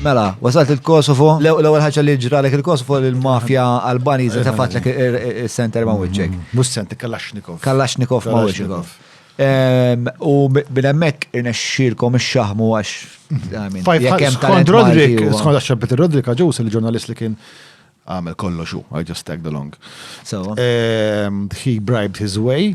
Mela, wasalt il-Kosovo, l-ewwel ħaġa li ġralek il-Kosovo li l-mafja Albaniża eh, tefatlek eh, eh, is-center ma' wiċċek. Mm-hmm. Mhux center Kalashnikov. Kalashnikov ma' wiċċek. Ehm, u minn hemmhekk irnexxielkom ix-xaħmu għax. Mm-hmm. Skont Rodrik, skont għax Peter Rodrik għaġus il-ġurnalist li kien għamel kollox u I just tagged along. So ehm, he bribed his way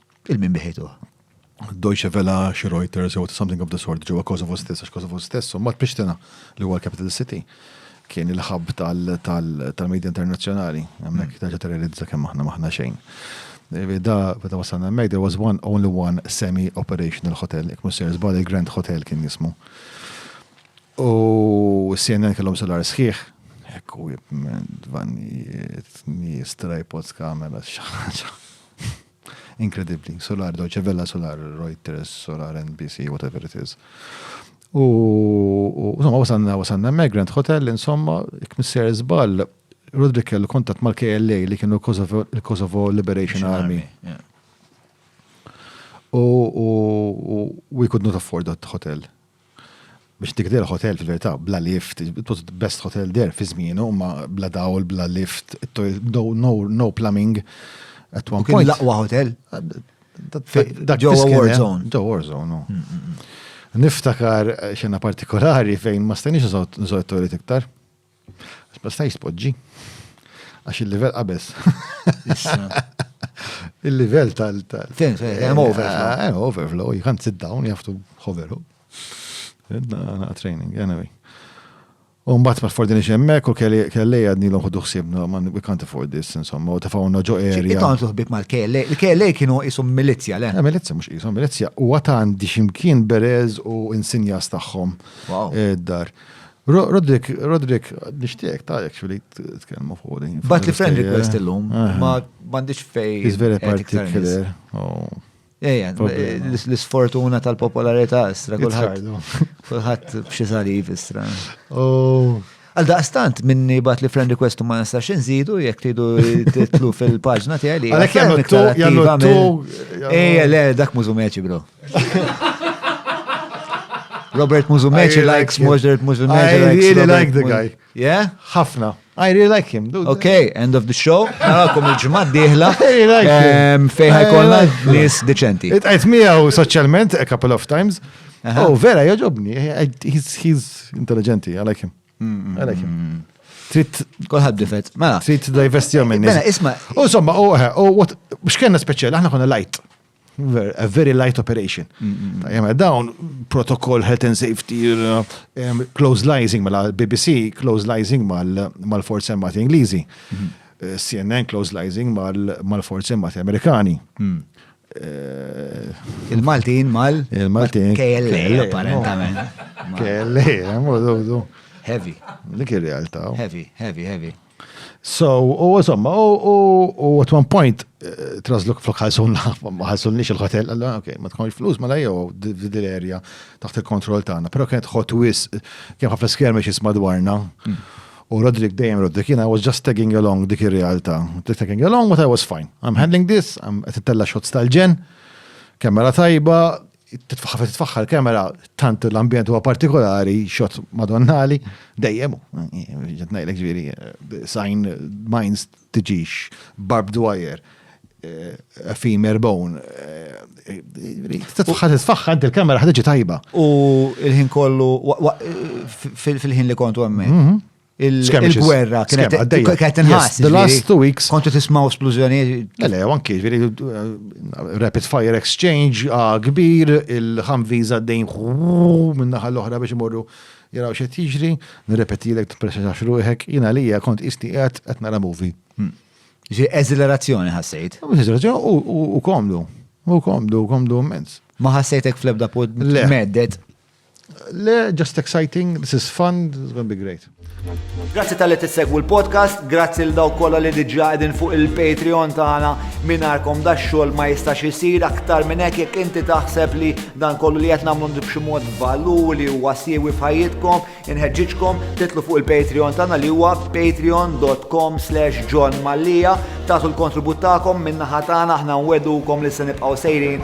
Il-min biħejtuh. Deutsche Welle, xi Reuters, jew something of the sort ġewwa Kosovo stess, għax Kosovo stess, mbagħad Prishtina, li huwa l-capital city, kien il-ħabb tal-medja internazzjonali, hemmhekk terġa' terrorizza kemm aħna maħna xejn. Da, meta wasalna hemmhekk, there was one, only one semi-operational hotel, jekk mhux ser żball il-Grand Hotel kien jismu. U CNN kellhom solar sħiħ, ekku jibmen, dvannijiet, nies, tripods, kamera, xaħġa. Inkredibbli. Solar, Deutsche Welle Solar, Reuters Solar, NBC, whatever it is. U, insomma, wasanna, wasanna Migrant Hotel, insomma, kmisser zbal, Rodri kellu kontat mal-KLA li kienu l-Kosovo Liberation Army. U we could not afford that hotel. biex dik der hotel fil-verità bla lift, it was the best hotel there fi żmienu, ma bla dawl, bla lift, no, no, no plumbing. At one point. Laqwa hotel. Dak ġo war zone. Ġo war zone, no. Mm, mm, mm. Niftakar xena partikolari fejn ma stajniex nżod toilet iktar. Ma stajx tpoġġi. Għax il-livell qabeż. Il-livell tal. Fim, hemm overflow. Eh, hemm overflow, you can't sit down, you have to hover. Na training, anyway. U mbagħad ma fordini xemmek u kelli għadni l ħodu ħsibna man we can't afford this insomma u tafawna ġo area. Ikon tuħbib mal kelli il-kelli kienu jisum milizja le. Eh, milizja mhux qishom milizja u għatan di ximkien berez u insinjas tagħhom id-dar. Eh, Rodrik, Rodrik, nishtiek ta' jek xuli t-kelmu fuq din. Bat li friend request illum, eh. ma bandiċ fej. Is very particular. Oh. Ejja, l-sfortuna tal-popolarità istra, kullħat. Kullħat bxie saliv istra. Oh. Għal daqstant minni bat li friend request ma nistax nżidu jekk tridu titlu fil-paġna tiegħi li. Għalhekk jagħmlu tu jagħmlu tu. Ejja le dak mużu meċi bro. Robert Muzumeċi really likes like Mozart Muzumeċi. I likes really Robert like the guy. Yeah? Hafna. I really like him. Dude. Okay, end of the show. Narakom il-ġimgħa d-dieħla. Ehm, Fejn ħajkollna nies deċenti. Itqajt miegħu soċjalment a couple of times. Oh, vera, joġobni. He's intelligenti, I like him. Mm-hmm. I like him. Mm-hmm. Trit. Kolħad difet. Mela. Trit divestjom minni. Mela, isma. U somma, u, u, x'kenna speċjali, aħna konna light. A very light operation. Jemma, dawn protokoll health and safety, close liaising ma mela l-BBC, close liaising ma mal-forzi armati Ingliżi, eh, CNN close liaising ma mal-forzi armati Amerikani. Mm. Eh, Il-Maltin mal? Il-Maltin. KLA, apparentament. KLA, eh, Heavy. Dik il-realtà. Heavy, heavy, heavy. So, u insomma, u at one point, eh, trasluk flok ħalsun ma ħalsunniex il-hotel, għalla, ok, ma tkunx flus, ma lajjo, dil area taħt il-kontroll tagħna, pero kienet hot wis, kien ħafna skjermi xis madwarna. Mm. U Rodrik dejjem Rodrik, jina, I was just tagging along dik ir-realtà. Tagging along, but I was fine. I'm handling this, I'm tella shots tal-ġen, kamera tajba, titfaħħar titfaħħar kamera tant l-ambjent huwa partikolari xot madonnali dejjem ġed ngħidlek ġifieri eh, sign minds tiġix barbed wire eh, effimer bone eh, titfaħħar titfaħħar inti l-kamera ħaġa tajba. U l-ħin kollu fil-ħin li kontu hemmhekk. Mhm. il-gwerra kienet inħass. The last two weeks. Kontu tismaw splużjoni. Le, anki, veri, uh, rapid fire exchange, ah, kbir, il-ħamviz għaddejn minnaħal l-oħra biex imorru jaraw xe tiġri, nirrepeti l-ek t-presa xaxruħek, jina li kont isti għet għet nara movie. Hmm. Ġi eżilerazzjoni ħassejt. Eżilerazzjoni u komdu, u komdu, u komdu immens. Ma ħassejtek fl-ebda pod meddet. Le, just exciting, this is fun, this is going to be great. Grazzi tal-li tissegwu l-podcast, grazzi l daw kolla li diġa għedin fuq il-Patreon tagħna minarkom da xogħol ma jistax isir aktar minn hekk jekk inti taħseb li dan kollu li qed nagħmlu b'xi mod valur li huwa siewi f'ħajjitkom, inħeġġiġkom titlu fuq il-Patreon tagħna li huwa patreon.com slash John Mallia tagħtu l-kontribut tagħkom minnaħa tagħna aħna nwedukom li se nibqgħu sejrin